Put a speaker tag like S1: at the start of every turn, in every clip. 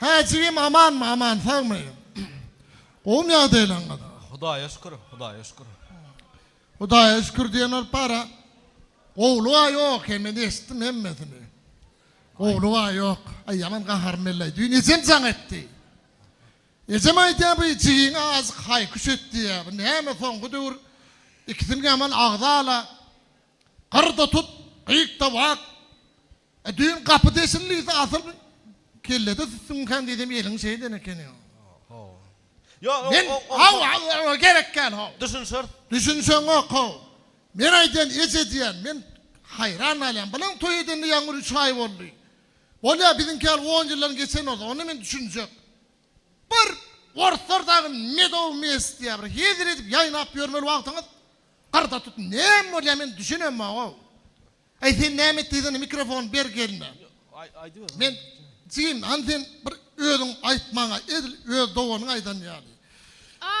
S1: Hä jigim amanmy aman sagmy gowmy ýagdaýlaryňyz. Hudaýa şükür Hudaýa şükür. Hudaýa şükür diýen bolup bara gowluga ýok hem men eşitdim hemmesini. Gowluga ýok aý ýaman gaharym elleý düýn ejem jaň etdi. Ejem aýdýar bu jigiňe azk haýkyş et diýýär bu näme soňky döwür ikisini ýaman agzala gyrda tut gyýkda wak E düýn gapy deşildiyse asyl kellede süsüňkän diýsem eliň şeý eden ekeni. Haw. Ýok, Men o, o, haw, haw, haw, gerek kän haw. Düşünşeris. Düşünseňok haw. Men aýdýan eje diýýän, men haýran galýan. Bilen toý edende ýaňy bir üç aý boldy. Bolýa biziňki ýaly on ýyldan geçen bolsa, onda men düşünjek. Bir orslar dagy medow mes diýýä bir hezil edip ýaýnap ýörmeli wagtyňyz gyrda tut. Näme bolýa men düşünemok haw. Aý sen näme et diýsene mikrofony ber gelne. Men jigim hany sen bir özüň aýt maňa edil öz doganyň aýdan ýaly.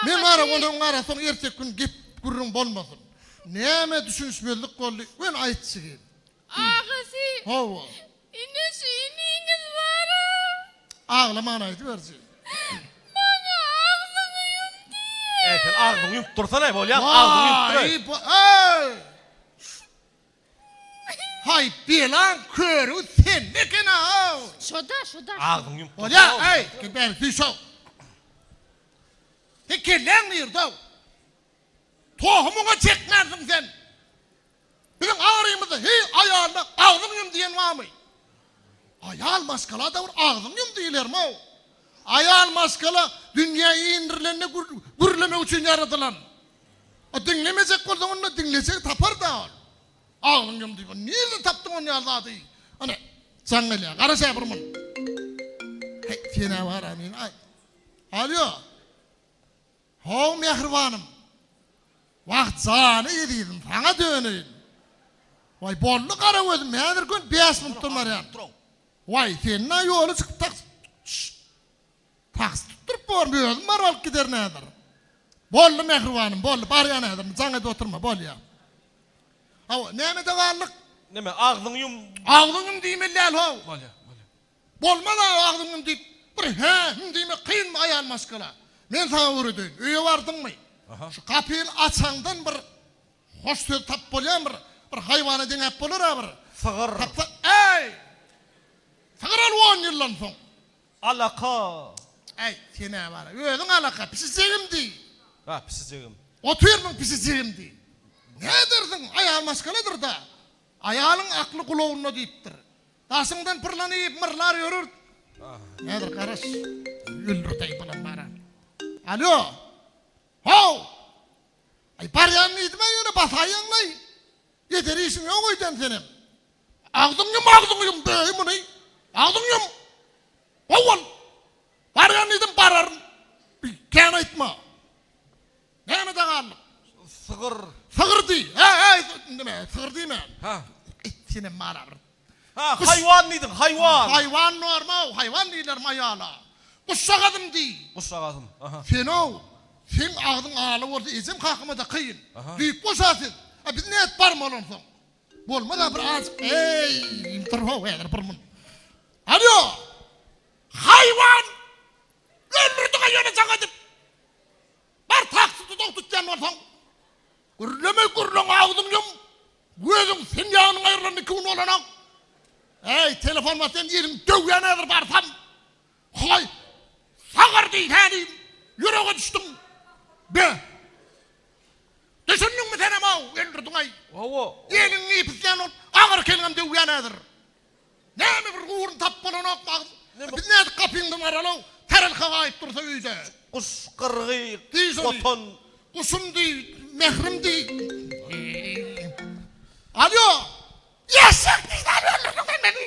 S1: Men wara onuň arasyny ertek gün gep gürrüň bolmasyn. Näme düşünişmezlik boldy wen aýt jigim. Agasy. Hawa. Ine şu iniňiz bara. Aglamagyn aýdyberji. Maňa agzyňy ýum diýýä. Äý sen agzyňy ýumyp dursana bolýamy agzyňy ýumyp dur. Waý bu äý. Haý belaň körügi sende ekena-ow. Şoda, şoda. Agzyňy ýumup dur. Bolýa, aý, bäri süýş ow. Seň kelläň nirde-ow? Tohumyňa çekmänsiň sen. Biziň arymyzda heý aýalyna agzyňy ýum diýen barmy? Aýal maşgalada bir agzyňy ýum diýilermi-ow? Aýal maşgala dünýä indirlende gürlemek üçin ýaradylan. A diňlemejek bolsaň onda diňlejegi tapar-da ol. Agzyňy ýum diýip, nirden tapdyň ony ýaly zady? Ana, jaň gelýär. Garaş-a bir mun. Heý, sen-ä bar-a meni aý. Alýo. How mähribanym. Wah, jany ezizim, saňa döneýin. Waý, boldy gara gözüm, häzir gön bäş minutdan barýan. Waý, sen-ä ýola çykyp taks. Şşşt. Taksi tutduryp bormy, özüm baryp alyp giderin häzir. Boldy, mähribanym, boldy, barýan häzir, indi jaň edip oturma, bolýar. Hawa, nämede galdyk? Näme, agzyňy ýum. Agzyňy ýum diýmeli däl, how. Bolýar, bolýar. Bolmaz-a, agzyňy ýum diýip, bir hä, hüň diýmek kynmy, aýal maşgala? Men saňa öwredeýin, öýe bardyňmy, şu gapyny açaňdan bir hoş söz tapyp bolýarmy, bir, bir haýwana deňäp bolar-a bir. Sygyr. Tapsa, äý! Sygyr ol on ýyldan soň. Alaka! Äý, sen-ä bar, özüň alaka, pisijigim diý! Bar, pisijigim. Otur, muň pisijigim diý! Ne edersiň, aýal maşgaladyr-da! Aýalyň akly gulagynda diýipdir. Daşyňdan pyrlan iýip, myrlar ýörür. Häzir garaş, öldürdeý bulam bar-a! Alýo! How! Aý, barýan diýdim-ä ýöne basaýýaň-laý! Eder işiň ýok öýden senem! Agzyňy ýum agzyňy ýum beý muny agzyňy ýum How bol barýan diýdim bararyn bir kän aýtma näme daganlyk sygyr sygyr diý he he nime sygyr diýme ha it senem bana bir ha haýwan diýdiň haýwan haýwan normal haýwan diýler maýala guşjagazym diý guşjagazym aha senow seň agzyň ala bolsa ejem kakama da kyn düýp goşa siz a biz nädip barmaly onsoň Bolmaz-a bir azjyk eý, dur-how häzir bir mun. Alýo! Haýwan! Öldürdiň-a ýöne jaň edip! Bar taksy duzagy tutýan bolsaň! Gürleme gürleň agzyňy ýum! Gözüň sen ýagynyň aýrylan iki gün bolana! Äý, telefon bat sen ýeriň döwýän häzir barsam! Hoy, sagyr diý tälim, ýürege düşdüň. Be! Düşündiňmi senem-ow, öldürdiň-aý. Hawa. Eliňi ýypyslän ol, agyr kelgem döwýän häzir. Näme bir ugrun tap bolanokmy agys? Biz nädip gapyňdan garal-ow, tarelka gaýyp dursa öýde. Guş, gyrgy, gotan. Guşum diý, mährim diý. Alýo! Eşek diý tälim, öldürdiň sen meni.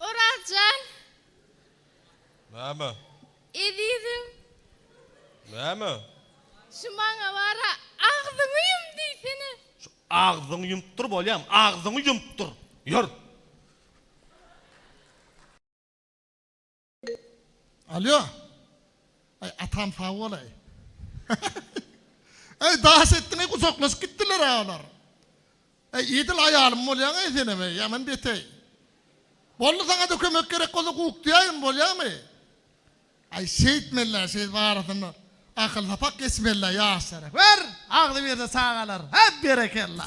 S1: Orazjan. Näme? Ezizim. Näme? Şu maňa bara agzyňy ýum diýsene. Şu agzyňy ýumup dur bolýamy? Agzyňy ýumup dur. Ýör. Alýo. Aý atam sag bolaý. Aý daş etdiň-eý gujaklaşyp gitdiler-ä olar. Aý edil aýalym bolýaň-eý senem-eý ýaman beteý. Boldy saňa-da kömek gerek bolsa guk diýäýin bolýamy? Aý şeýtmeli-ä şeý barasynda akyl sapak geçmeli-ä ýaşlara. Ber, agzybirde çagalar. Hä berekella.